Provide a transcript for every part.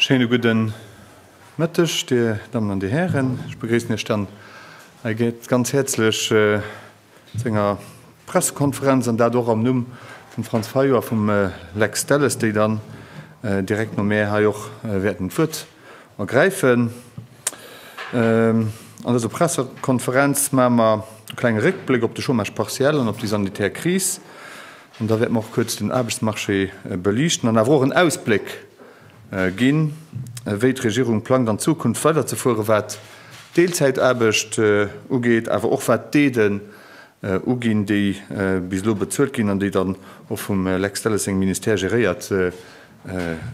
Schéine gudden Mëtteg, Dir Dammen an Dir Hären. Ech begréissen Iech dann hei ganz häerzlech zu enger Pressekonferenz, an dat och am Numm vum Franz Fayot a vum Lex Delles, déi dann direkt no mär hei och wäerten d'Wuert ergräifen. An dëser Pressekonferenz maache mer e klenge Réckbléck op de Chômage partiel an op déi sanitär Kris. An da wäerte mer och kuerz den Aarbechtsmarché beliichten an awer och en Ausbléck ginn, wéi d'Regierung plangt an Zukunft weiderzefuere wat d'Deelzäitaarbecht ugeet, awer och wat d'Aiden uginn, déi bis elo bezuelt ginn an déi dann och vum Lex Delles sengem Ministère geréiert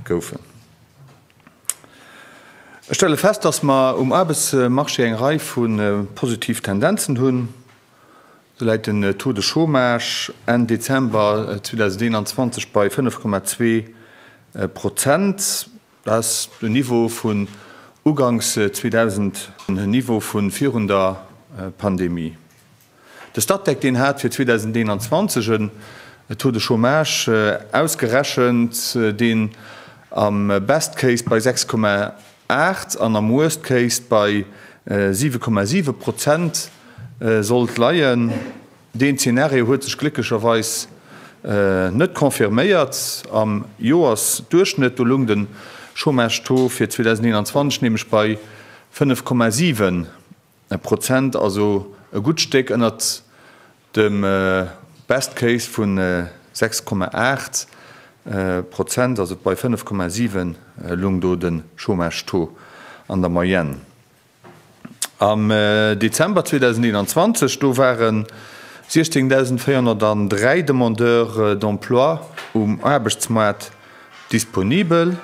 goufen. Ech stelle fest, dass mer um Aarbechtsmarché eng Rei vu positiv Tendenzen hunn. Sou läit den Taux de Chômage Enn Dezember 2021 bei 5,2 Prozent. Dat ass den Niveau vun uganks 2000, den Niveau vu virun der Pandemie. De Statec, deen hat fir 2021 en Taux de chômage ausgerechent, deen am best case bei 6,8 an am worst case bei 7,7 Prozent sollt leien. Deen Zenario huet sech glécklecherweis net confirméiert. Am Joersduerchschnëtt, do loung de Chômage-Taux fir 2021 nämlech bei 5,7 E Prozent, also e gutt Stéck ënnert dem Best Case vu 6,8 Prozent, also bei 5,7 lung do de Chômage-Taux an der Moyenne. Am Dezember 2021, do ware 16.403 Demandeurs d'emploi um Aarbechtsmaart disponibel.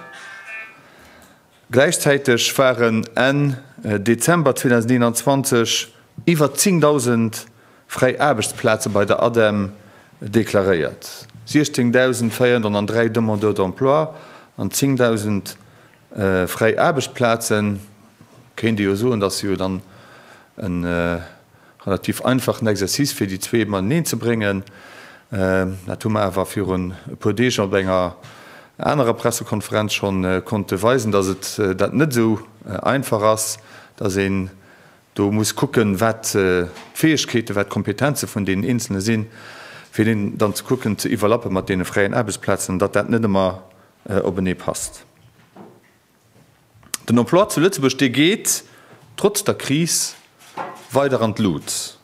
Gläichzäiteg waren Enn Dezember 2021 iwwer 10.000 fräi Aarbechtsplaze bei der ADEM deklaréiert, 16.403 Demandeurs d'emploi an 10.000 fräi Aarbechtsplazen, kéint ee jo soen, dass se jo dann en. Relativ einfachen Exercice fir déi zwee mateneen ze bréngen. Dat hu mer awer virun e puer Deeg op enger anerer Pressekonferenz scho konnte weisen, datt et dat net esou einfach ass, datt een do muss kucken, wat d'Fäegkeeten, wat d'Kompetenze vun deenen Eenzelne sinn, fir deen dann ze kucken ze iwwerlappe mat deene fräien Aarbechtsplazen, an datt dat net ëmmer openee passt. Den Emploi zu Lëtzebuerg, dee geet trotz der Kris weider an d'Lut.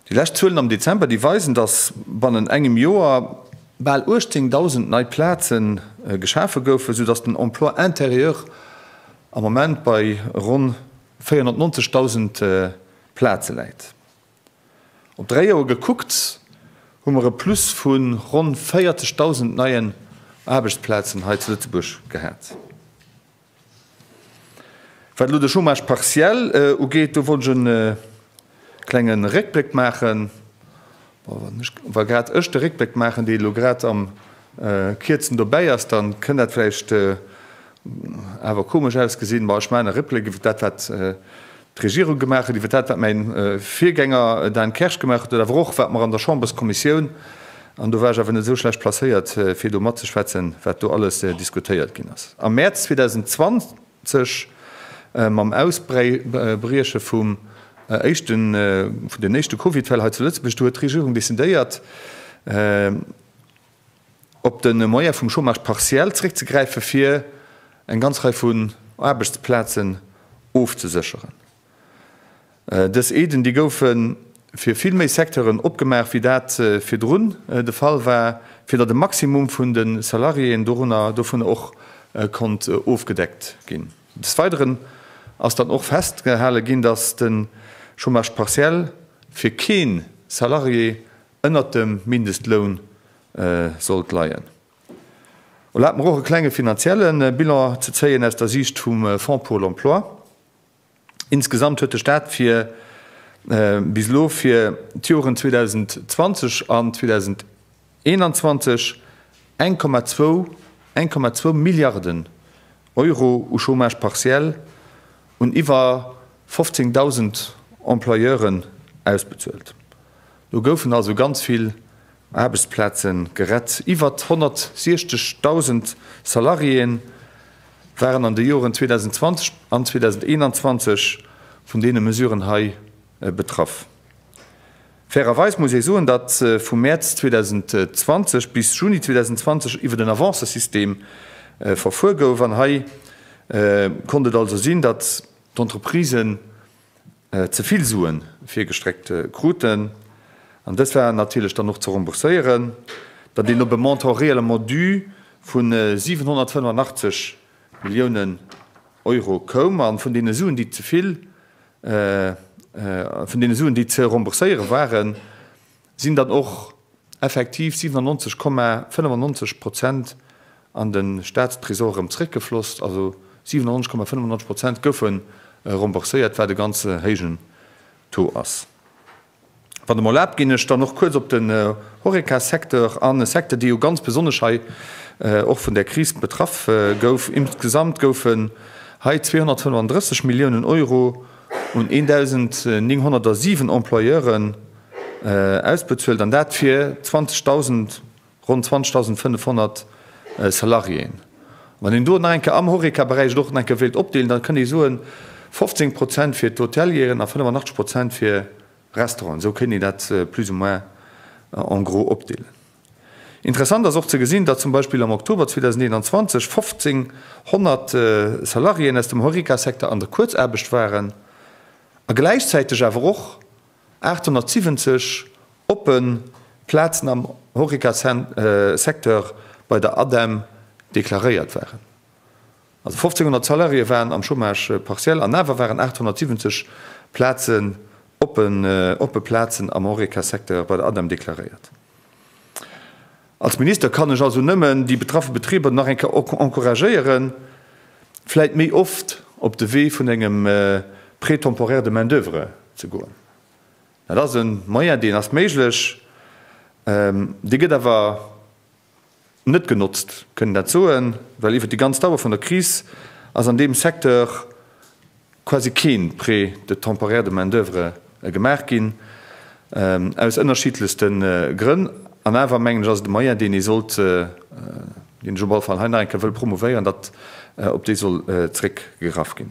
Déi lescht Zuelen am Dezember, déi weisen, datt bannen engem Joer bal 18.000 nei Plaze geschafe goufen, sou datt den Emploi intérieur am Moment bei ronn 490.000 Plaze läit. Op dräi Joer gekuckt hu mer e Plus vu ronn 40.000 neien Aarbechtsplazen hei zu Lëtzebuerg gehat. Wat elo de Chômage partiel ugeet, do wollt ech e klenge Réckbléck maachen. Wa grad ech de Réckbléck maachen, dee elo grad am Kierzen dobäi ass, da kënnt dat vläicht Awer komesch ausgesinn. Bon, ech maachen e Replik iwwert dat, wat d'Regierung gemaach huet, iwwert dat, wat mäi Virgänger Dan Kersch gemaach huet, oder awer och, wat mer an der Chamberskommissioun, an do war ech awer net esou schlecht placéiert, fir do matzeschwätzen, wat do alles diskutéiert ginn ass am Mäerz 2020 mam Ausbrieche vum éischte, vun den éischte Covidfäll hei zu Lëtzebuerg. Do huet d'Regierung decidéiert, op de Moyen vum Chômage partiel zréckzegräifen, fir eng ganz Rei vun Aarbechtsplazen ofzesécheren. Dës Aiden, déi goufe fir vill méi Secteuren opgemaach, wéi dat virdrun de Fall war, fir datt e Maximum vun de Salariéen dovunner och konnt ofgedeckt ginn. Des Weideren ass dann och festgehale ginn, datt de Chômage partiel fir kee Salarié ënnert dem Mindestloun sollt leien. Erlaabt mer och e klenge finanzielle Bilan ze zéien aus der Siicht vum Fonds pour l'emploi. Insgesamt huet de Staat fir bis elo fir d'Joren 2020 an 2021 eng Komma zwou Milliarden Euro u Chômage partiel un iwwer 15.000 Employeuren ausbezuelt. Do goufen also ganz vill Aarbechtsplaze gerett. Iwwer 160.000 Salariéë waren an de Joren 2020 an 2021 vun deene Mesuren hei betraff. Fairerweis muss ee soen, datt vu Mäerz 2020 bis Juni 2020 iwwert en Avancësystem verfuer gouf an hei konnt et also sinn, datt d'Entreprisen ze vill Sue virgestreckt kruten, an dës waren natierlech dann och ze rembourséieren, datt een op e Montant réellement dû vu 785 Milliounen Euro koum. A vun deene Suen, déi ze vill Vun deene Suen, déi ze rembourséiere waren, sinn dann och effektiv 97,95 Prozent an de Staatstresor erëm zeréckgefloss. Also 97,95 Prozent goufe rembourséiert, wat e ganze héijen Taux ass. Wann Der mer erlaabt, ginn ech dann och kuerz op den Horeca-Secteur an, e Secteur, dee jo ganz besonnesch hei och vun där Kris betraff gouf. Insgesamt goufen hei 235 Milliounen Euro un 1.907 Employeuren ausbezuelt, an dat fir 20.000, Ronn 20.500 Salariéen. Wann een do nach eng Kéier am Horeca-Beräich et och nach eng Kéier wéilt opdeelen, da kënnt ee soen, 15 Prozent fir d'Hotelieren a 85 Prozent fir Restauranten. Esou kéint een dat plus ou moins en gros opdeelen. Interessant ass och ze gesinn, datt zum Beispill am Oktober 2021 1.500 Salariéen aus dem Horeca-Secteur an der Kuerzaarbecht waren a gläichzäiteg awer och, 870 oppe Plazen am Horeca-Secteur bei der ADEM deklaréiert waren. Also 1.500 Salariéë waren am Chômage partiel an awer waren 870 Plazen oppen, oppe Plazen am Horeca-Secteur bei der ADEM deklaréiert. Als Minister kann ech also nëmmen déi betraffe Betriber nach eng Kéier encouragéieren, vläit méi oft op de Wee vun engem Prêt temporaire de main-d'oeuvre ze goen. Dat ass e Moyen, deen ass méiglech, dee gëtt awer net genotzt, kënnen dat soen, well iwwert déi ganz Dauer vun der Kris ass an deem Secteur, quasi keen Prêt de temporaire de main-d'oeuvre gemaach ginn, aus ënnerschiddlechste Grënn. An awer, mengen ech, ass et e Moyen, deen ee sollt, deen ech op alle Fall hei nach eng Kéier wëll promouvéieren, datt op dee soll zréckgegraff ginn.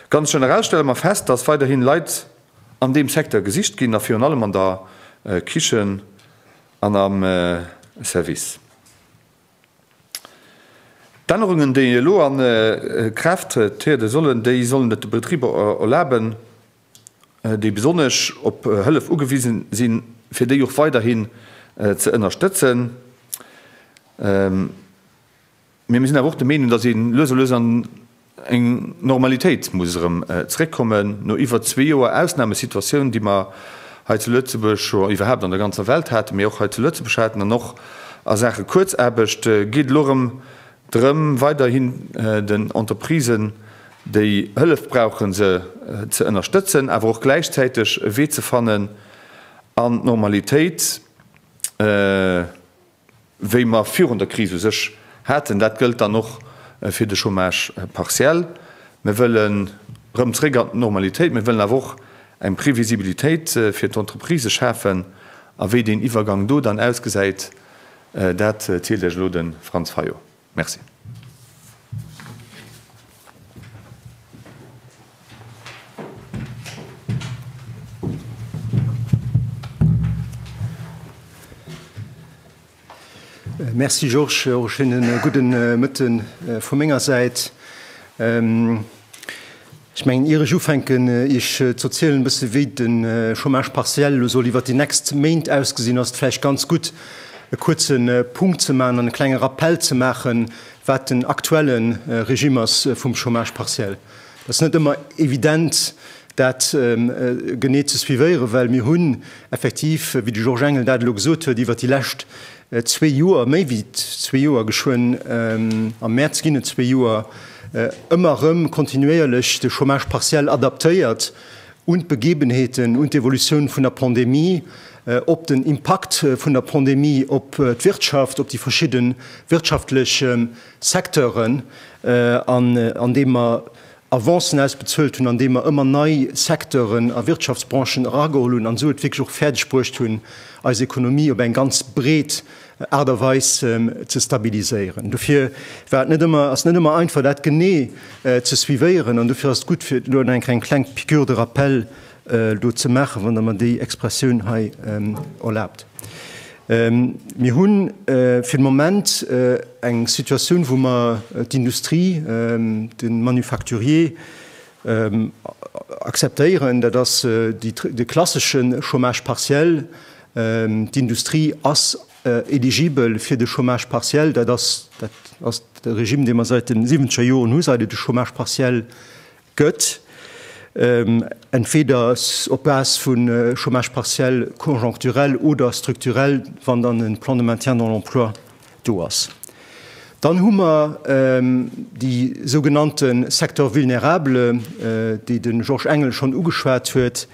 Ganz generell stelle mer fest, datt weiderhin Leit an deem Secteur gesicht ginn, a virun allem an der Kichen an am Service. D'Ännerungen, déi elo a Kraaft triede sollen, déi sollen et de Betriber erlaben, déi besonnesch op Hëllef ugewise sinn, fir déi och weiderhin ze ënnerstëtzen. Mee mir sinn awer och de Meenung, dass ee lues a lues an Eng Normalitéit muss erëm zeréckkommen no iwwer zwee Joer Ausnamesituatioun, déi mer hei zu Lëtzebuerg scho, iwwerhaapt an der ganzer Welt haten, mee och hei zu Lëtzebuerg haten. An och a Saache Kuerzaarbecht geet elo erëm drëm, weiderhin den Entreprisen, déi Hëllef brauchen, se ze ënnerstëtzen, awer och gläichzäiteg e Wee ze fannen an d'Normalitéit, wéi mer virun der Kris u sech haten. Dat gëllt dann och fir de Chômage partiel. Mir wëllen erëm zréck an d'Normalitéit. Mir wëllen awer och eng Previsibilitéit fir d'Entreprisë schafen. A wéi deen Iwwergang do dann ausgesäit, dat zielt Iech elo de Franz Fayot. Merci. Merci Georges, och e schéine gudde Mëtten vu menger Säit. Ech mengen, ier ech ufänken iech ze erzielen e bësse wéi de Chômage partiel elo soll iwwert déi nächst Méint ausgesinn, ass et vläicht ganz gutt e kuerze Punkt ze maachen an e klenge Rappell ze maachen, wat den aktuelle Regime ass vum Chômage partiel. Dat ass net ëmmer evident dat genee ze suivéieren, well mir hunn effektiv, wéi de Georges Engel dat elo gesot huet, iwwert déi lescht Zwee Joer, méi wéi zwee Joer, geschwënn am Mäerz ginn et zwee Joer, ëmmer erëm kontinuéierlech de Chômage partiel adaptéiert un d'Begebenheeten, un d'Evolutioun vun der Pandemie, op den Impakt vun der Pandemie op d'Wirtschaft, op déi verschidde wirtschaftlech Secteuren, an deem mer Avancen ausbezuelt hunn, andeem mer ëmmer nei Secteuren a Wirtschaftsbranchen erageholl hunn an esou et wierklech och fäerdeg bruecht hunn, eis Ekonomie op eng ganz breet Aart a Weis ze stabiliséieren. Dofir war et net ëmmer, ass et net ëmmer einfach, dat genee ze suivéieren an dofir ass et gutt, fir elo nach eng kleng Piqûre de rappel do ze maachen, wann Der mer déi Expressioun hei erlaabt. Mir hu fir de Moment eng Situatioun, wou mer d'Industrie, de Manufacturier akzeptéieren. Dat ass de klassesche Chômage partiel. D'Industrie ass eligibel fir de Chômage partiel. Dat ass de Regime, dee mer säit de siwenzeg Joren hu, seit et de Chômage partiel gëtt, entweder op Base vu Chômage partiel conjoncturel oder strukturell, wann dann e Plan de maintien dans l'emploi do ass. Dann hu mer déi sougenannte Secteurs vulnérables, déi de Georges Engel schonn ugeschwat huet.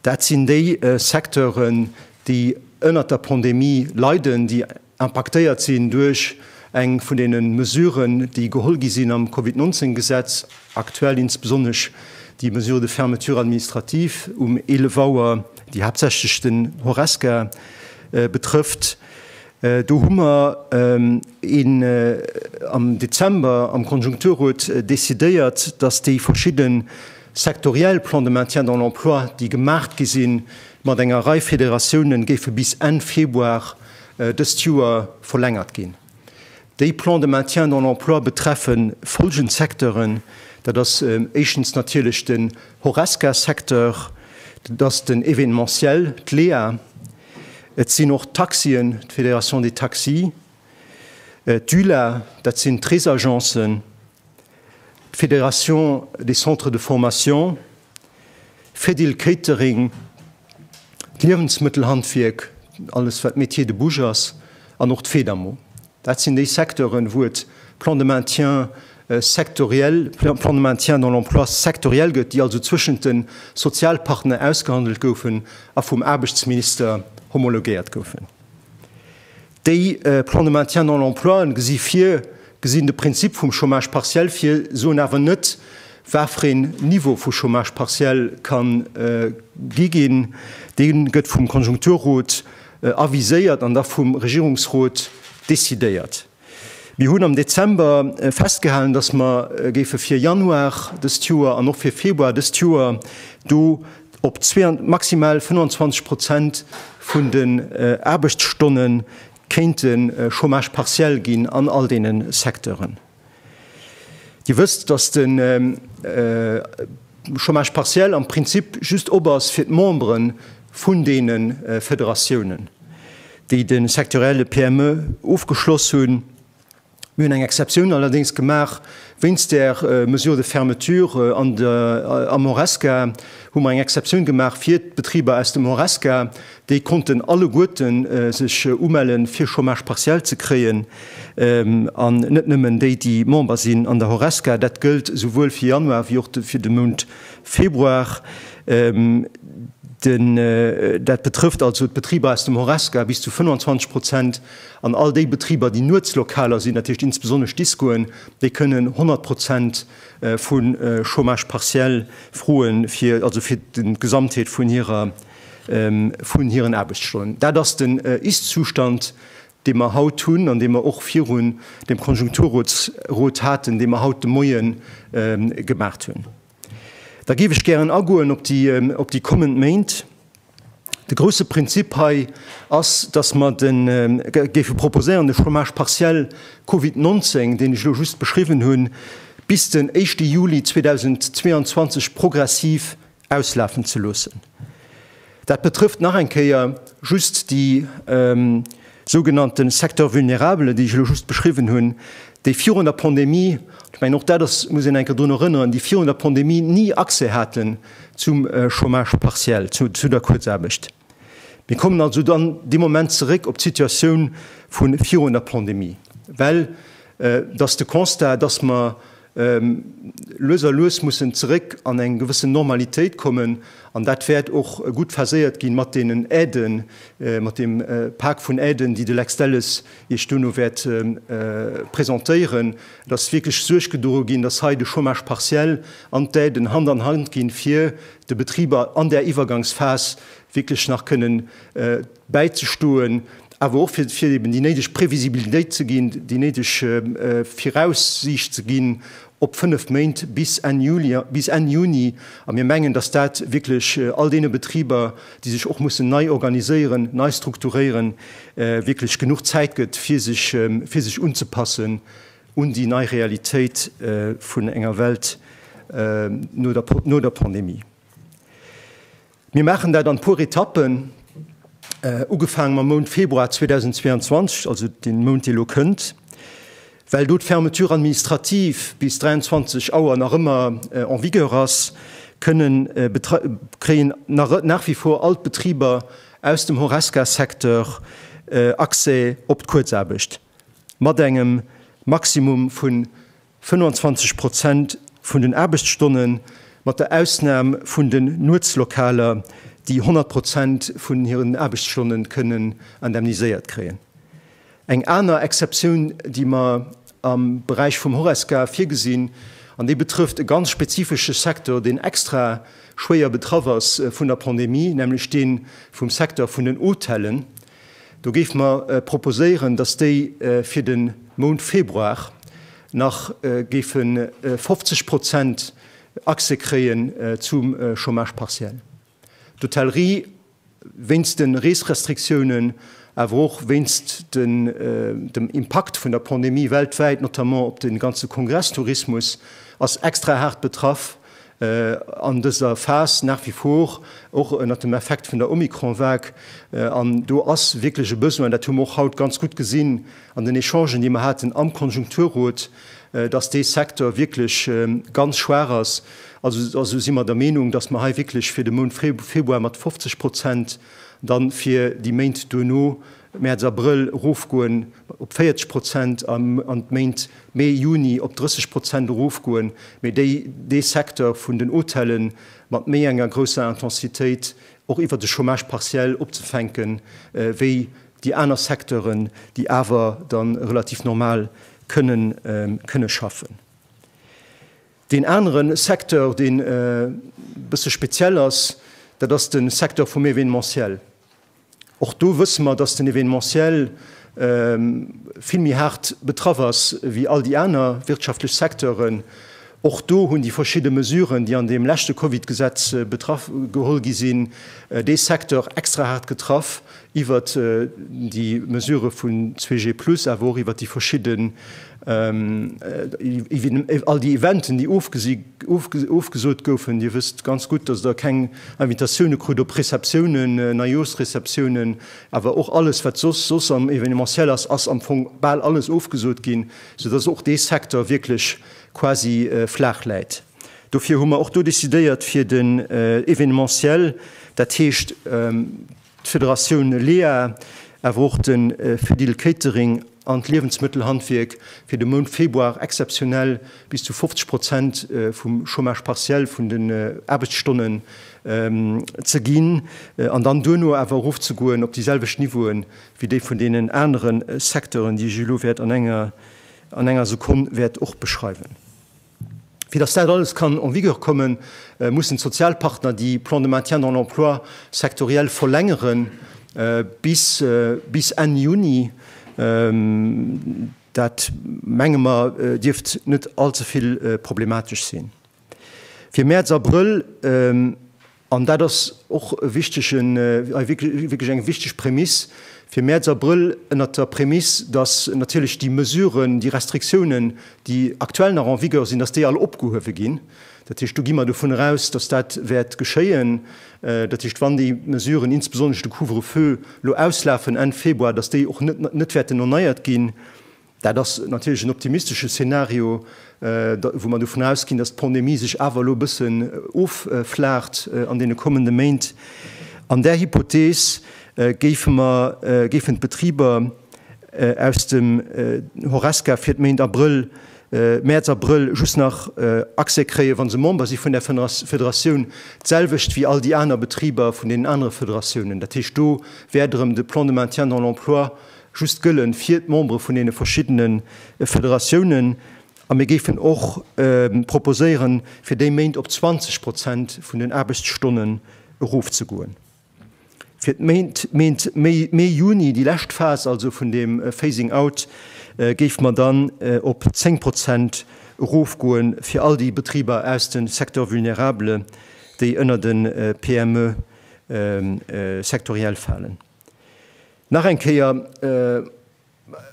Dat sinn déi Secteuren, déi ënnert der Pandemie leiden, déi, impaktéiert sinn duerch eng vun deene Mesuren, déi geholl gi sinn am Covid 19 Gesetz, aktuell insbesonnesch déi Mesure de fermeture administrative um 11 Auer, déi haaptsächlech den Horesca betrëfft. Do hu mer am Dezember am Konjunkturrot decidéiert, datt déi verschidde sektoriell Plans de maintien dans l'emploi, déi gemaach gi sinn, mat enger Rei Federatiounen géife bis Enn Februar dëst Joer verlängert ginn. Déi Plans de maintien dans l'emploi betreffe follgend Secteuren, Dat ass éischtens natierlech den Horesca-Secteur, dat ass den Événementiel, d'LEA, et sinn och d'Taxien, d'Fédération des taxis, d'ULA, dat sinn d'Reesagencen, d'Fédération des centres de formation, Fedil Catering, d'Liewensmëttelhandwierk, alles wat Métier de bouche ass, an och d'Fedamo. Dat sinn déi Secteuren, wou et Plans de maintien sectoriel, Plans de maintien dans l'emploi sectoriel gëtt, déi also zwëschent de Sozialpartner ausgehandelt goufen a vum Aarbechtsminister homologéiert goufen. Déi Plans de maintien dans l'emploi gesi vir, gesinn de Prinzip vum Chômage partiel vir, soen awer net, wat fir een Niveau vu Chômage partiel ka gi ginn. Dee gëtt vum Konjunkturrot aviséiert an da vum Regierungsrot decidéiert. Mir hunn am Dezember festgehalen, dass mer géife fir Januar dëst Joer an och fir Februar dëst Joer do Op maximal 25 Prozent vun den Aarbechtsstonne kéint de Chômage partiel ginn an all deene Secteuren. Dir wësst, datt de Chômage partiel am Prinzip just op ass fir d'Membere vun deene Federatiounen, déi de sectorielle PME ofgeschloss hunn. Mir hunn eng Exceptioun allerdéngs gemaach, wéinst där Mesure de fermeture an der, am Horesca hu mer eng Exceptioun gemaach fir d'Betriber aus dem Horesca, déi konnten alleguerten sech umelle fir Chômage partiel ze kréien an net nëmmen déi, déi Member sinn an der Horesca. Dat gëllt souwuel fir Januar wéi och fir de Mount Februar. Dat betrëfft also d'Betriber aus dem Horesca bis zu 25 Prozent. An all déi Betriber, déi Nuetslokaler sinn, dat heescht insbesonnesch d'Discoen, déi kënnen 100 Prozent vu Chômage partiel froen, also fir d'Gesamtheet vun hiren Aarbechtsstonnen. Dat ass den Ist-Zustand, dee mer haut hunn an dee mer och virun dem Konjunkturrot haten, dee mer haut de Moie gemaach hunn. Da géif ech gären agoen op déi kommend Méint. De grousse Prinzip hei ass, dass mer géife proposéieren, de Chômage partiel Covid 19, deen ech elo just beschriwwen hunn, bis den éischte Juli 2022 progressiv auslafen ze loossen. Dat betrëfft nach eng Kéier just déi sougenannte Secteurs vulnérables, déi ech elo just beschriwwen hunn, déi virun der Pandemie, ech mengen, och dat muss een eng Kéier drun erënneren, déi virun der Pandemie ni Accès haten zum Chômage partiel, zu der Kuerzaarbecht. Mir kommen also dann dee Moment zeréck op d'Situatioun vu virun der Pandemie, well et ass de Constat, dass mer Lues a lues mussen zeréck an eng gewëssen Normalitéit kommen, an dat wäert och gutt verséiert gi mat deenen Aiden, mat deem Pak vun Aiden, déi de Lex Delles Iech duerno wäert presentéieren. Et ass wierklech Suerg gedroe ginn, dass hei de Chômage partiel an d'Aiden Hand an Hand ginn, fir de Betriber an där Iwwergangsphas wierklech nach kënnen, bäizestoen, awer och fir fir eben déi néideg Previsibilitéit ze ginn, déi néideg Viraussiicht ze ginn op fënnef Méint bis Enn Juli, bis Enn Juni. A mir mengen, datt dat wierklech all deene Betriber, déi sech och mussen nei organiséieren, nei strukturéieren, wierklech genuch Zäit gëtt, fir sech fir sech unzepassen un déi nei Realitéit vun enger Welt no der no der Pandemie. Mir maachen dat an e puer Etappen, ugefaange mam Mount Februar 2022, also dee Mount, dee elo kënnt, well do d'Fermeture administrative bis 23 Auer nach ëmmer en vigueur ass, kënnen, kréien nach wie vor all d'Betriber aus dem Horesca-Secteur Accès op d'Kuerzaarbecht mat engem Maximum vun 25 Prozent vun den Aarbechtsstonnen, mat der Ausnahm vun den Nuetslokaler, déi 100 Prozent vun hiren Aarbechtsstonnen kënnen indemniséiert kréien. Eng aner Exceptioun, déi mer am Beräich vum Horesca virgesinn, an déi betrëfft e ganz spezifesche Secteur, deen extra schwéier betraff ass vun der Pandemie, nämlech dee vum Secteur vun den Hotellen, Do géife mer proposéieren, dass déi fir de Mount Februar nach géife 50 Prozent Accès kréien zum Chômage partiel. D'Hotellerie, wéinst de Reesrestriktiounen, awer och wéinst dem Impakt vun der Pandemie weltwäit, notamment op de ganze Kongresstourismus, ass extra haart betraff an dëser Phas nach wie vor, och ënnert dem Effekt vun der Omikron-Vague. An do ass wierklech e Besoin, dat hu mer och haut ganz gutt gesinn an den Echangen, déi mer haten am Konjunkturrot, dass dee Secteur wierklech ganz schwaach ass. Also si mer der Meenung, dass mer hei wierklech fir de Mount Februar mat 50 Prozent, dann fir déi Méint duerno, Mäerz, Abrëll, erofgoen op 40 Prozent an d'Méint Mee, Juni, op 30 Prozent erofgoen, mee déi dee Secteur vun den Hotellen mat méi enger grousser Intensitéit och iwwert de Chômage partiel opzefänken, wéi déi aner Secteuren, déi awer da relativ normal kënnen kënnen schaffen. Deen anere Secteur, deen e bësse speziell ass, dat ass de Secteur vum Événementiel. Och do wësse mer, dass den Evenementiel vill méi haart betraff ass wéi all déi aner wirtschaftlech Secteuren. Och do hunn déi verschidde Mesuren, déi an deem leschte Covid-Gesetz geholl gi sinn, dee Secteur extra haart getraff, iwwert déi Mesurë vun 2G plus, awer och iwwert déi verschidde, all déi Eventen, déi ofgesot goufen. Dir wësst ganz gutt, dass Der keng Invitatioune krut op Receptiounen, Neijoersreceptiounen, awer och alles wat soss soss am Evenementiel ass, ass am Fong bal alles ofgesot ginn, sou dass och dee Secteur wierklech quasi flaach läit. Dofir hu mer och do decidéiert fir den Evenementiel, dat heescht, d'Federatioun LEA, awer och de Fedil Catering an d'Liewensmëttelhandwierk fir de Mount Februar exzeptionell bis zu 50 Prozent vum Chômage partiel vun den Aarbechtsstonnen ze ginn an dann duerno awer erofzegoen op déi selwecht Niveauen wéi déi vun deenen anere Secteuren, déi ech elo wäert an enger Sekonn wäert och beschreiwen. Fir dass dat alles kann en vigueur kommen, mussen d'Sozialpartner déi Plans de maintien dans l'emploi sectoriels verlängere bis bis Enn Juni. Dat, menge mer, dierft net all ze vill problematesch sinn. Fir Mäerz, Abrëll. An dat ass och e wichtegen, wierklech eng wichteg Prämiss fir Mäerz, Abrëll, ënnert der Prämiss, dass natierlech déi Mesuren, déi Restriktiounen, déi aktuell nach en vigueur sinn, dass déi all opgehuewe ginn. Dat heescht, do gi mer dovunner eraus, dass dat wäert geschéien. Dat heescht, wann déi Mesuren, insbesonnesch de Couvre-feu, elo auslafen Enn Februar, dass déi och net wäerten erneiert ginn. Dat ass natierlech en optimistesche Szenario, wou mer dovun ausginn, dass d'Pandemie sech awer elo e bëssen offlaacht an deene kommende Méint. An där Hypothees géife mer, géifen d'Betriber aus dem Horesca fir d'Méint Abrëll, Mäerz, Abrëll just nach Accès kréien, wa se Member si vun där Federatioun. D'selwecht wéi all déi aner Betriber vun deenen anere Federatiounen. Dat heescht, do wäert erëm de Plan de maintien dans l'emploi just gëllen fir d'Membere vun deene verschiddene Federatiounen, a mir géifen och proposéieren, fir déi Méint op 20 Prozent vun den Aarbechtsstonnen erofzegoen. Fir d'Méint Méi, Mee, Juni, déi lescht Phas also vun deem Phasing out, géife mer dann op 10 Prozent erofgoen fir all déi Betriber aus de Secteurs vulnérables, déi ënner de PME sectoriel falen. Nach eng Kéier,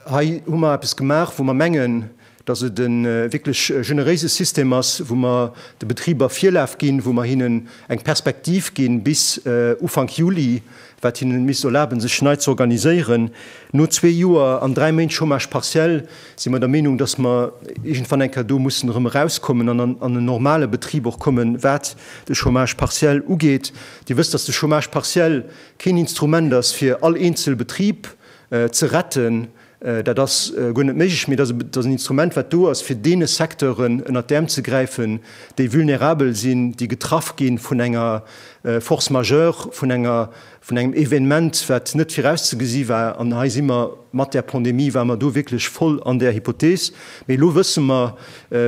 hei hu mer eppes gemaach, wou mer mengen, dass et e wierklech generéise System ass, wou mer de Betriber Virlaf ginn, wou mer hinnen eng Perspektiv ginn bis Ufank Juli, wat hinne misst erlaben, sech nei ze organiséieren. No zwee Joer an dräi Méint Chômage partiel si mer der Meenung, dass mer iergendwann eng Kéier do mussen erëm erauskommen an an en normale Betrib och kommen, wat de Chômage partiel ugeet. Dir wësst, dass de Chômage partiel, Keen Instrument ass fir all eenzel Betrib ze retten, dat ass guer net méiglech, mee et ass en Instrument, wat do ass fir deene Secteuren ënnert d'Äerm ze gräifen, déi vulnerabel sinn, déi getraff gi vun enger Force majeure, vun engem Evenement, wat net virauszegesi war. An hei si mer, mat där Pandemie ware mer do wierklech voll an där Hypothees. Mee elo wësse mer,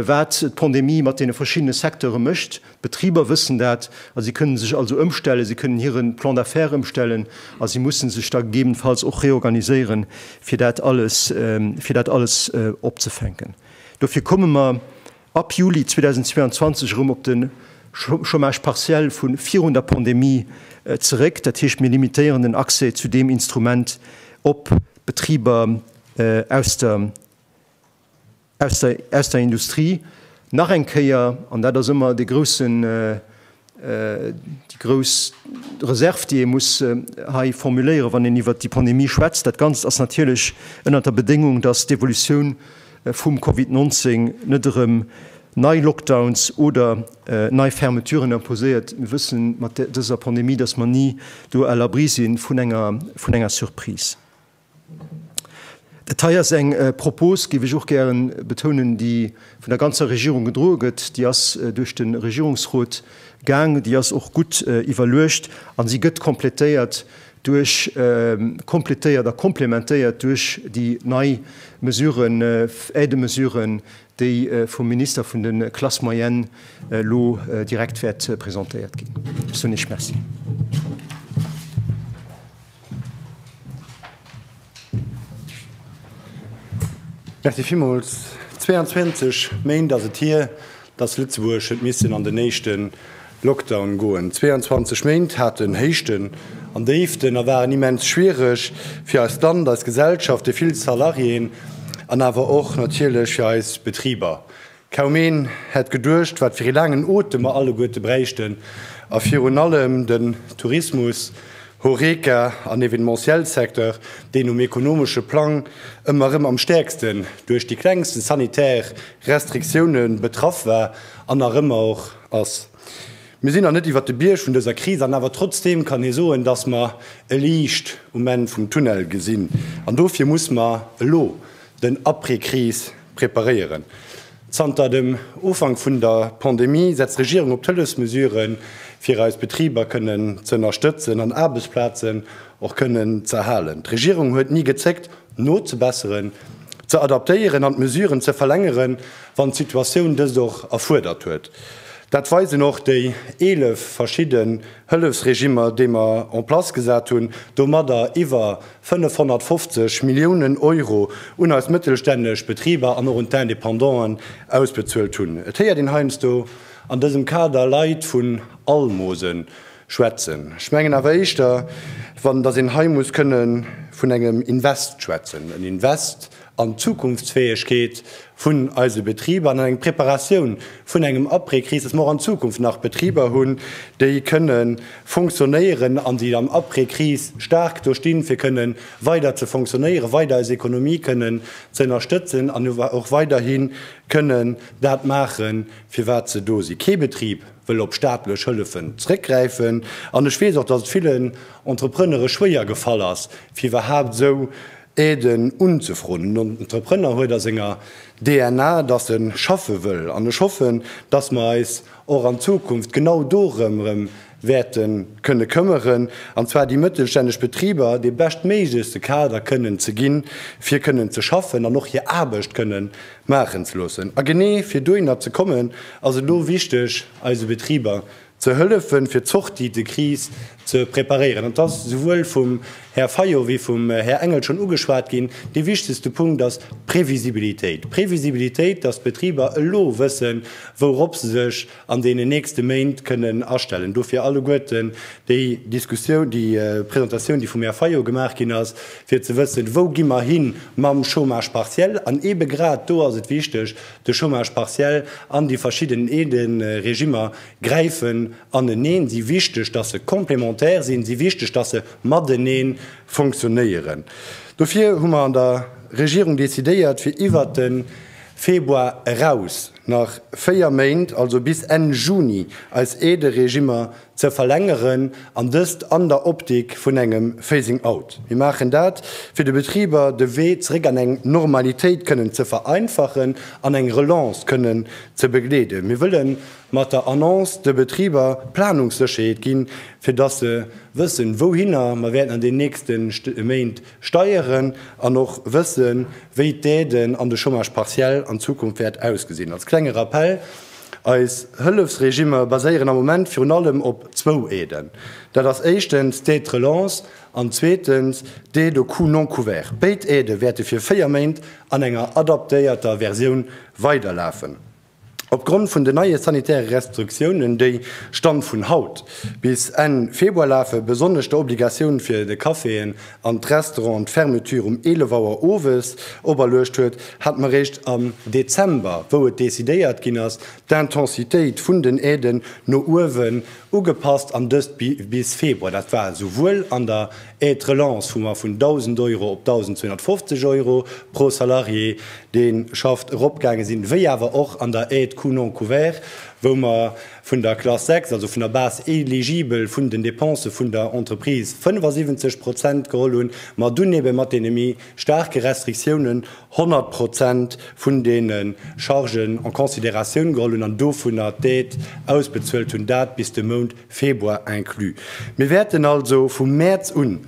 wat d'Pandemie mat deene verschiddene Secteure mécht. D'Betriber wëssen dat a si kënnen sech also ëmstellen, si kënnen hire Plan d'affaires ëmstellen a si mussen sech da gegebenenfalls och reorganiséieren, fir dat alles, fir dat alles opzefänken. Dofir komme mer ab Juli 2022 erëm op de Chômage partiel vu virun der Pandemie zeréck. Dat heescht, mir limitéieren den Accès zu deem Instrument op Betriber aus der. aus der Industrie nach eng Kéier, an dat ass ëmmer déi grouss Reserv, déi ee muss hei formuléieren, wann een iwwert déi Pandemie schwätzt, dat Ganzt ass natierlech ënnert der Bedéngung, datt d'Evolutioun vum Covid 19 net erëm nei Lockdowns oder nei Fermeturen imposéiert. Mir wësse mat dëser Pandemie, datt mer ni do à l'abri si vun enger Surprise. Dat hei ass eng Propos, géif ech och gäre betounen, déi vun der ganzer Regierung gedroe gëtt. Déi ass duerch de Regierungsrot gaang, déi ass och gutt iwwerluecht a si gëtt komplettéiert duerch komplettéiert a komplementéiert duerch déi nei Mesuren, Aide-mesuren, déi vum Minister vun de Classes moyennes elo direkt wäert presentéiert ginn. Ech soen Iech Merci. Merci villmools. 22 Méint ass et hier, dass Lëtzebuerg huet missen an den éischte Lockdown goen. 22 Méint haten Héichten an Déiften a waren immens schwiereg fir eist Land, eis Gesellschaft, déi vill Salariéen an awer och natierlech fir eis Betriber. Kaum een hätt geduecht, wat fir ee laangen Otem mer alleguerte bräichten, a virun allem den Tourismus, Horeca an Evenementiel-Secteur, deen um ekonomesche Plang ëmmer erëm am stäerksten duerch déi klengsten sanitär Restriktioune betraff war an nach ëmmer och ass. Mir sinn nach net iwwert de Bierg vun dëser Kris, an awer trotzdeem kann ee soen, dass mer e Liicht um Enn vum Tunnel gesinn. An dofir muss mer elo den Après-Kris preparéieren. Zanter dem Ufank vun der Pandemie setzt d'Regierung op d'Hëllefsmesuren, fir eis Betriber kënnen ze ënnerstëtzen an Aarbechtsplazen och kënnen ze erhalen. D'Regierung huet ni gezéckt, nozebesseren, ze adaptéieren an d'Mesuren ze verlängeren, wann d'Situatioun dëst och erfuerdert huet. Dat weisen och déi 11 verschidden Hëllefsregimmer, déi mer en place gesat hunn, domadder iwwer 550 Milliounen Euro un eis mëttelstänneg Betriber an och un d'Independanten ausbezuelt hunn. Et héiert een heiansdo an dësem Kader Leit vun Almose schwätzen. Ech mengen awer éischter, datt een hei muss kënne vun engem Invest schwätzen, en Invest an d'Zukunftsfäegkeet vun eise Betriber an eng Preparatioun vun engem Après-Kris, dass mer och an Zukunft nach Betriber hunn, déi kënne fonctionnéieren an déi dann Après-Kris staark do stinn, fir kënne weider ze fonctionnéieren, weider eis Ekonomie kënnen ze ënnerstëtzen an och weiderhi kënnen dat maachen, fir wat se do sinn. Kee Betrib wëll op staatlech Hëllefen zrëckgräifen an ech weess och, dass et villen Entreprenere schwéier gefall ass, fir iwwerhaupt esou Aiden unzefroen. Den Entrepreneur huet a senger DNA, dass e schaffe wëll. An ech hoffen, dass mer eis och an Zukunft genau dorëm erëm wäerte kënne këmmeren, an zwar déi mëttelstänneg Betriber dee beschtméiglechste Kader kënnen ze ginn, fir kënnen ze schaffen an och hir Aarbecht kënne maachen ze loossen. A genee fir dohinner ze kommen, ass et elo wichteg, eise Betriber ze hëllefen, fir d'Sortie de crise ze preparéieren. Et ass souwuel vum Här Fayot wéi vum Här Engel schonn ugeschwat ginn, dee wichtegste Punkt ass d'Previsibilitéit. D'Previsibilitéit, dass d'Betriber elo wëssen, wourop se sech an deenen nächste Méint kënnen astellen. Dofir alleguerten déi Diskussioun, déi Presentatioun, déi vum Här Fayot gemaach ginn ass, fir ze wëssen, wou gi mer hi mam Chômage partiel. An eebe grad do ass et wichteg, De Chômage partiel an déi verschidden Aiden, Regimmer, gräifen aneneen, si wichteg, datt se complémentaire sinn, si wichteg, datt se matenee funktionéieren. Dofir hu mer an der Regierung decidéiert, fir iwwert de Februar eraus nach véier Méint, also bis Enn Juni, eis Aide-Regimmer ze verlängeren, an dëst an der Optik vun engem Phasing out. Mir maachen dat, fir de Betriber de Wee zeréck an eng Normalitéit kënnen ze vereinfachen an eng Relance kënnen ze begleeden. Mir wëlle mat der Annonce de Betriber Planungssécherheet ginn, fir datt se wëssen, wouhinner mer wäerten an den nächste Méint steieren, an och wëssen, wéi d'Aiden an de Chômage partiel an Zukunft wäert ausgesinn. Als klenge Rappell, Eis Hëllefsregimmer baséieren am Moment virun allem op zwou Aiden. Dat ass éischtens d'Aide de relance an zweetens d'Aide aux coûts non couverts. Béid Aidë wäerte fir véier Méint an enger adaptéierter Versioun weiderlafen. Opgrond vun den neie sanitäre Restriktiounen, déi, Stand vun haut, bis Enn Februar lafen, besonnesch der Obligatioun fir de Caféen an d'Restaurant an d'Fermeture um 11 Auer owes operluecht huet, hat m'eréischt am Dezember, wou et decidéiert ginn ass, d'Intensitéit vun den Aiden no uewen ugepasst an dëst bis Februar. Dat war esouwuel an der Aide relance, wou mer vun 1.000 Euro op 1.250 Euro pro Salarié, dee schafft, eropgaange sinn, wéi awer och an der Aide coût non couvert, wou mer, vun der Klass 6, also vun der Base éligible vun den Dépensen vun der Entreprise 75 Prozent geholl hunn, ma dunn ebe mat deene méi staarke Restriktiounen 100 Prozent vun deene Chargen en considératioun geholl hunn an dovunner d'Aide ausbezuelt hunn, dat bis de Mount Februar inclus. Mir wäerten also vu Mäerz un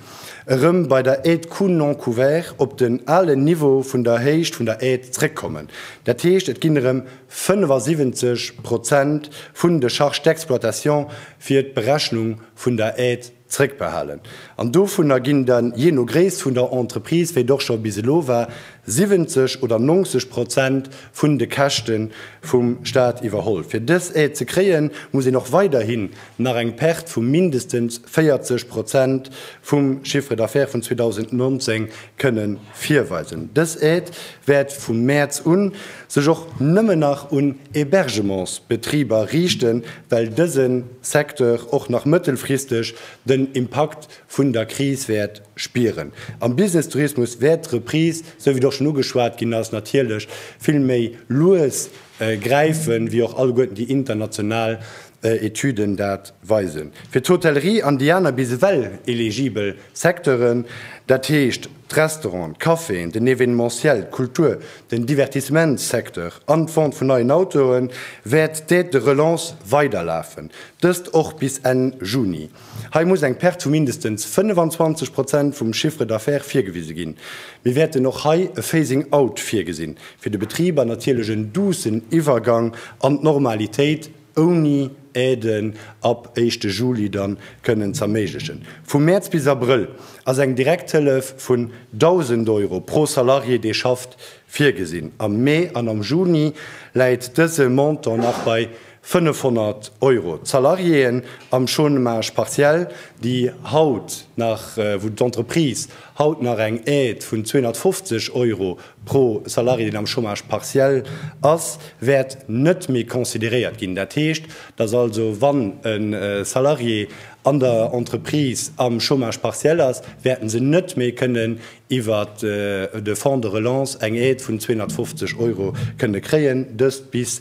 erëm bei der Aide coûts non couverts op den alen Niveau vun der Héicht vun der Aide zréckkommen. Dat heescht, et ginn erëm 75 Prozent vun de Charges d'exploitation fir d'Berechnung vun der Aide zréckbehalen. An dovunner ginn dann, jee no Gréisst vun der Entreprise, wéi et och scho bis elo war, 70 oder 90 Prozent vun de Käschte vum Stat iwwerholl. Fir dës Aide ze kréien, muss een och weiderhin nach eng Perte vu mindestens 40 Prozent vum Chiffre d'affaires vun 2019 kënnen Virweisen. Dës Aide wäert vum Mäerz un sech och nëmmen nach un Hébergementsbetriber riichten, well dëse Secteur och nach mëttelfristeg den Impakt vun der Kris wäert spieren. Am Business-Tourismus wäert d'Reprise, esou wéi et och schonn ugeschwat ginn ass, natierlech vill méi lues gräifen, wéi och alleguerten déi international Etüden dat weisen. Fir d'Hotellerie an déi aner bis ewell eligibel Secteuren, dat heescht d'Restauranten, d'Caféen, den Evenementiel, d'Kultur, den Divertissementssecteur an d'Vente vun neien Autoen, wäert d'Aide de relance weiderlafen, dëst och bis Enn Juni. Hei muss eng Perte vu mindestens 25 Prozent vum Chiffre d'affaires virgewise ginn. Mir wäerten och hei e Phasing out virgesinn, fir de Betriber natierlech en duussen Iwwergang an d'Normalitéit, ouni Aiden ab éischte Juli dann kënnen z'erméiglechen. Vu Mäerz bis Abrëll ass eng Direkthëllef vun 1.000 Euro pro Salarié dee schafft virgesinn. Am Mee an am Juni läit dëse Montant nach bei 500 Euro. D'Salariéen am Chômage partiel, déi haut nach, wou d'Entreprise haut nach eng Aide vun 250 Euro pro Salarié, deen am Chômage partiel ass, wäert net méi consideréiert ginn. Dat heescht, datt also, wann e Salarié an der Entreprise am Chômage partiel ass, wäerte se net méi kënnen iwwer de Fonds de relance eng Aide vun 250 Euro kënne kréien, dëst bis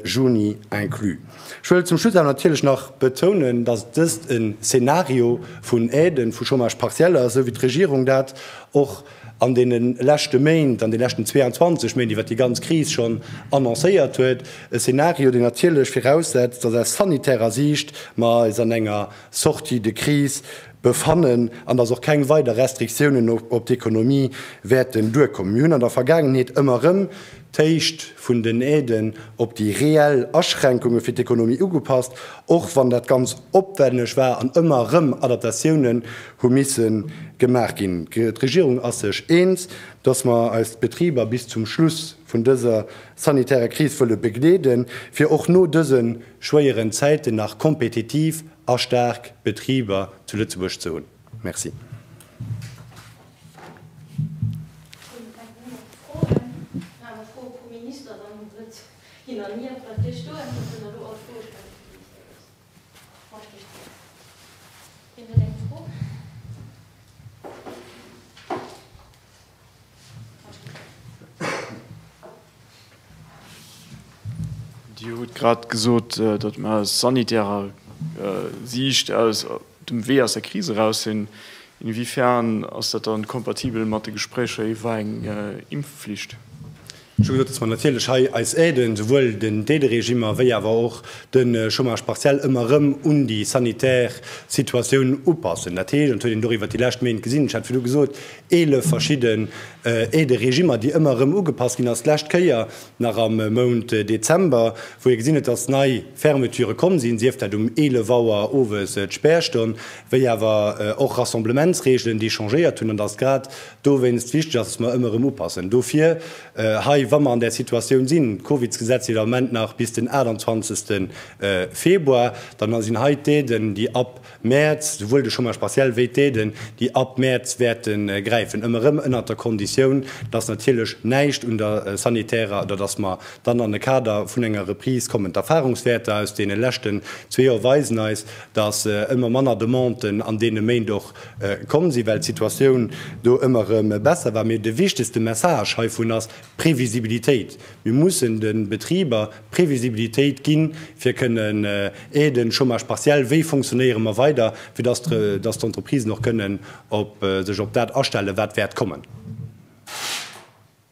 Juni inclus. Ech wëll zum Schluss awer natierlech nach betounen, datt dëst e Szenario vun Aiden, vu Chômage partiel ass, esou wéi d'Regierung dat och an deene leschte Méint, an deene leschten 22 Méint, iwwer déi ganz Kris schonn annoncéiert huet, e Szenario, deen natierlech viraussetzt, datt aus sanitärer Siicht mer eis an enger Sortie de crise befannen an datt och keng weider Restriktiounen op d'Ekonomie wäerten duerkommen. Mir hunn an der Vergaangenheet ëmmer erëm d'Héicht vun den Aiden op déi reell Aschränkunge fir d'Ekonomie ugepasst, och wann dat ganz opwenneg war an ëmmer erëm Adaptatiounen hu misse gemaach ginn. D'Regierung ass sech eens, dass mer eis Betriber bis zum Schluss vun dëser sanitärer Kris wëlle begleeden, fir och no dëse schwéieren Zäiten nach kompetitiv a staark Betriber zu Lëtzebuerg ze hunn. Merci. Dir hutt grad gesot, datt mer aus sanitärer Siicht aus dem Wee aus der Kris eraus sinn. Inwiefern ass dat dann kompatibel mat de Gespréicher iwwer eng Impfflicht? Ech hu gesot, dass mer natierlech hei eis Aiden, souwuel den d'Aide-Regimmer wéi awer och de Chômage partiel, ëmmer erëm un déi sanitär Situatioun upassen. Dat heescht, an dat huet een och iwwert déi lescht Méint gesinn, ech hat virdru gesot, eelef verschidden Aide-regimmer, déi ëmmer erëm ugepasst ginn ass, d'lescht Kéier nach am Mount Dezember, wou ee gesinn huet, dass nei Fermeturë komm sinn, sief dat um eelef Auer owes, d'Spärstonn, wéi awer och Rassemblementsreegelen, déi changéiert hunn, an dass grad dowéinst wichteg ass, dass mer ëmmer erëm upassen. Dofir hei, wa mer an där Situatioun sinn, d'Covidsgesetz iert am Moment nach bis den 28 Februar, dann sinn hei d'Aiden, déi ab Mäerz, souwuel de Chômage partiel wéi d'Aiden, déi ab Mäerz wäerte gräifen, ëmmer erëm ënnert der Konditioun, dass natierlech näischt un der sanitärer, oder dass mer dann an e Kader vun enger Reprise kommen. D'Erfahrungswäerter aus deene leschten zwee Joer weisen eis, dass ëmmer manner Demanden an deene Méint och komm sinn, well d'Situatioun do ëmmer erëm besser war. Mee de wichtegste Message heivun ass d'Previsibilitéit. Mir mussen de Betriber Previsibilitéit ginn, fir kënnen aiden, Chômage partiel, wéi fonctionnéiere mer weider, fir datt d'Entreprisen och kënnen sech op dat astellen, wat wäert kommen.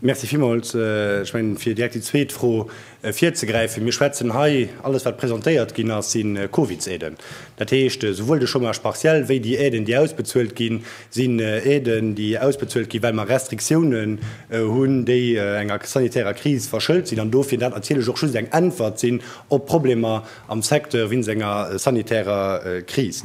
Merci villmools. Ech mengen, fir direkt déi zweet Fro virzegräifen, Mir schwätzen hei, alles wat presentéiert ginn ass, si Covidsaiden. Dat heescht, esouwuel de Chômage partiel wéi déi Aiden, déi ausbezuelt ginn, sinn Aiden, déi ausbezuelt ginn, well mer Restriktiounen hunn, déi enger sanitärer Kris verschëlt sinn, an dofir dat natierlech och just eng Äntwert sinn op Problemer am Secteur wéinst enger sanitärer Kris.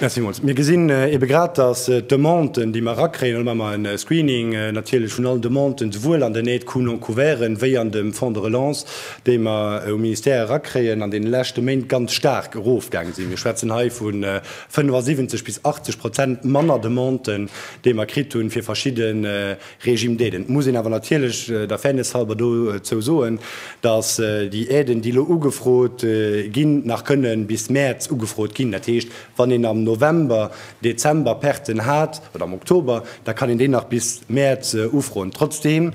Merci villmools. Mir gesinn ebe grad, dass d'Demanden, déi mer erakréien, elo maache mer e Screening natierlech vun allen Demanden, souwuel an den Aide-coût-non-couverten wéi an dem Fonds de relance, déi mer um Ministère erakréien, an deene leschte Méint ganz staark erofgaange sinn. Mir schwätzen hei vu 75 bis 80 Prozent manner Demanden, déi mer kritt hunn, fir verschidde Regime d'aiden. Et muss een awer natierlech der Fairness halber dozou soen, dass déi Aiden, déi elo ugefrot ginn, nach kënne bis Mäerz ugefrot ginn. Dat heescht, wann een am November, Dezember Perten hat, oder am Oktober, da kann een déi nach bis Mäerz ufroen. Trotzdeem,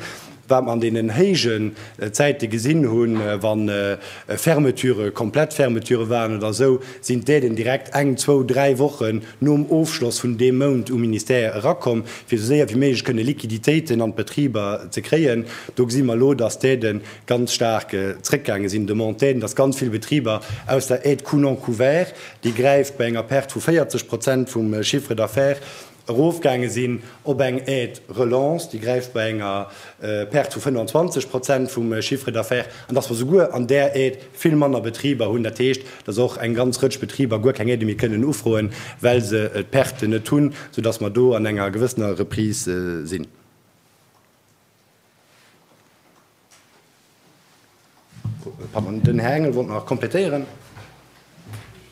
wat mer an deenen héije Zäite gesinn hunn, wa Fermeture, komplett Fermeture waren oder esou, sinn d'Aiden direkt eng, zwou, dräi Wochen, nom Ofschloss vun deem Mount um Ministère erakomm, fir esou séier wéi méiglech kënne Liquiditéiten an d'Betriber ze kréien. Do gesi mer elo, dass d'Aide ganz staark zréckgaange sinn, d'Demande d'Aiden, dass ganz vill Betriber aus der Aide coût non couvert, déi gräift bei enger Perte vu 40 Prozent vum Chiffre d'affaires, erofgaange sinn op eng Aide relance, déi gräift bei enger Perte vu 25 Prozent vum Chiffre d'affaires, an dass mer souguer an där Aide, Vill manner Betriber hunn, dat heescht, dass och eng ganz Rëtsch Betriber guer keng Aide méi kënnen ufroen, well se d'Perten net hunn, soudass mer do an enger gewëssener Reprise sinn. Den Här Engel wollt nach komplettéieren.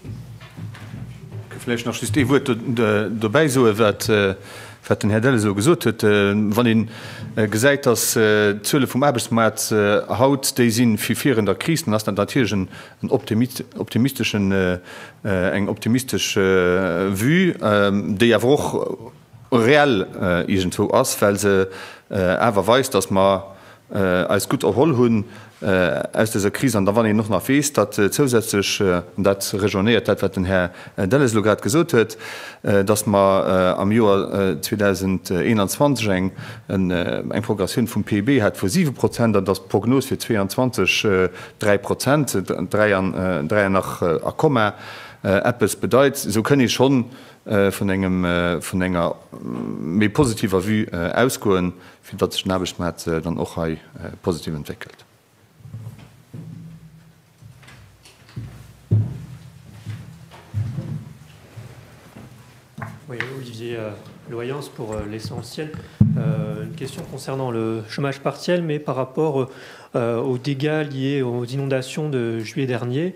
Ech géif vläicht nach just ee Wuert dobäi soen, wat den Här Delles elo gesot huet. Wann ee gesäit, dass d'Zuele vum Aarbechtsmaart haut déi si wéi virun der Kris, dann ass dat natierlech en optimisteschen, eng optimistesch Vue, déi awer och, reell iergendwou ass, well se awer weist, datt mer eis gutt erholl hunn aus dëser Kris. An da wann een och nach weess, datt zousätzlech, an dat rejoinéiert dat, wat den Här Delles elo grad gesot huet, datt mer am Joer 2021 eng Progressioun vum PIB hat vu siwe Prozent an datt d'Prognos fir 2022 dräi Prozent, dräi an nach a Komma, eppes bedeit, esou kënn ee schonn vun engem, vun enger méi positiver Vue ausgoen, fir datt sech den Aarbechtsmaart dann och hei positiv entwéckelt. Oui, Olivier Loyens pour l'essentiel. Une question concernant le chômage partiel, mais par rapport aux dégâts liés aux inondations de juillet dernier.